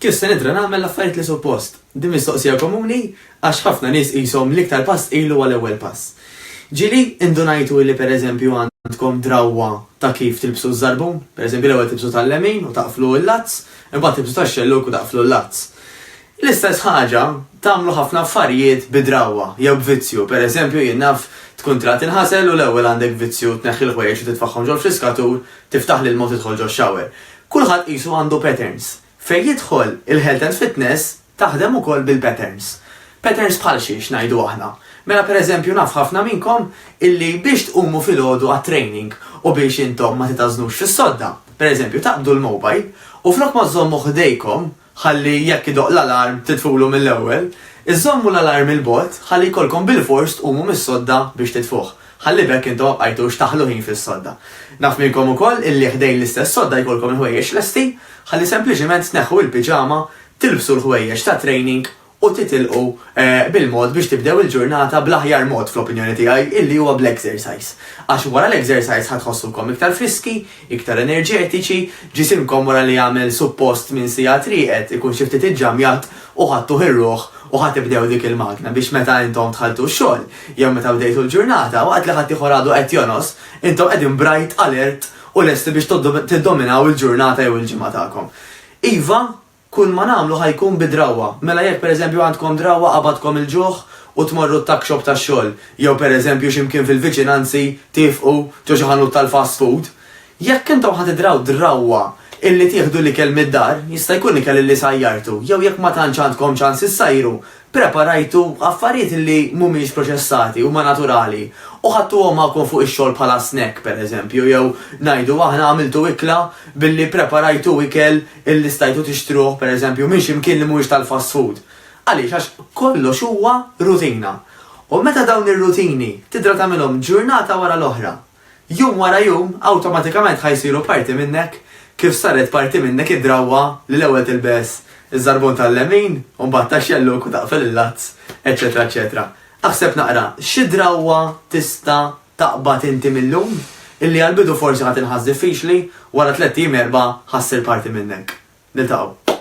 Kif se nidra nagħmel l-affarijiet li suppost? Din mistoqsija komuni għax ħafna nies qishom l-iktar pass ilu għal ewwel pass. Ġieli indunajtu li pereżempju għandkom drawwa ta' kif tilbsu ż-żarbun? Pereżempju l-ewwel tilbsu tal-lemin u taqflu l-lazz, imbagħad tilbsu tax-xellug u taqflu l-lazz. L-istess ħaġa tagħmlu ħafna affarijiet bi drawwa jew b'vizzju. Per eżempju, jien naf tkun trid tinħasel u l-ewwel għandek vizzju tneħħi l-ħwejjeġ u titfagħhom ġol-friskatur, tiftaħ l-ilma u tidħol ġox-shower. Kulħadd qisu għandu patterns. Fejn jidħol il-health and fitness taħdem ukoll bil-patterns. Patterns bħal xi, x'ngħidu aħna? Mela per eżempju naf ħafna minnkom illi biex tqumu filgħodu għat-training u biex intom ma titgħażnux fis-sodda, per eżempju taqbdu l-mobile u flok ma żżommu ħdejkom ħalli jekk idoqq l-alarm titfulu mill-ewwel. Iżżommu l-alarm 'il bogħod ħalli jkollkom bilfors tqumu mis-sodda biex titfuh, ħalli b'hekk intom ma bqajtux taħlu ħin fis-sodda. Naf minnkom ukoll illi ħdejn l-istess sodda jkollkom il-ħwejjeġ lesti, ħalli sempliċiment tneħħu il-piġama, tilbsu l-ħwejjeġ tat-training u titilqu bil-mod biex tibdew il-ġurnata bl-aħjar mod, fl-opinjoni tiegħi, illi huwa bl-exercise. Għax wara l-exercise ħa tħossukom iktar friski, iktar enerġetiċi, ġisimkom wara li għamel suppost minn siegħat rieqed ikun xi ftit iġġamjat u ħadtuh ir-ruħ u ħa tibdew dik il-magna biex meta intom dħaltu x-xogħol jew meta bdejtu l-ġurnata, waqt li ħaddieħor għadu qed jonos, intom qegħdin bright, alert u lesti biex tiddominaw il-ġurnata jew il-ġimgħa tagħkom. Iva, Kull ma nagħmlu ħa jkun bi drawwa. Mela jekk pereżempju għandkom drawwa qabadkom il-ġuħ u tmorru t-tuck shop tax-xogħol, jew pereżempju xi mkien fil-viċinanzi tifqu ġo xi ħanut tal-fast food, jekk intom ħa tidraw drawwa illi tieħdu l-ikel mid-dar, jista' jkun ikel illi sajjartu, jew jekk ma tantx għandkom ċans issajru, Ppreparajtu affarijiet li mhumiex proċessati, huma naturali, u ħadtuhom magħkom fuq ix-xogħol bħala snack, pereżempju, jew, ngħidu aħna, għamiltu ikla billi ppreparajtu ikel li stajtu tixtruh, pereżempju, minn xi mkien li mhuwiex tal-fast food. Għaliex? Għax kollox huwa rutina. U meta dawn ir-rutini tidra tagħmilhom ġurnata wara l-oħra. Jum wara jum, awtomatikament ħa jsiru parti minnek kif saret parti minnek id-drawwa li l-ewwel tilbes iż-żarbun tal-lemin u mbagħad tax-xellug u taqfel il-lazz, eċċetera eċċetera. Aħseb naqra, xi drawwa tista' taqbad inti mil-lum, illi għall-bidu forsi ħa tinħass diffiċli, wara tlett ijiem erbgħa ħa ssir parti minnek. Niltaqgħu.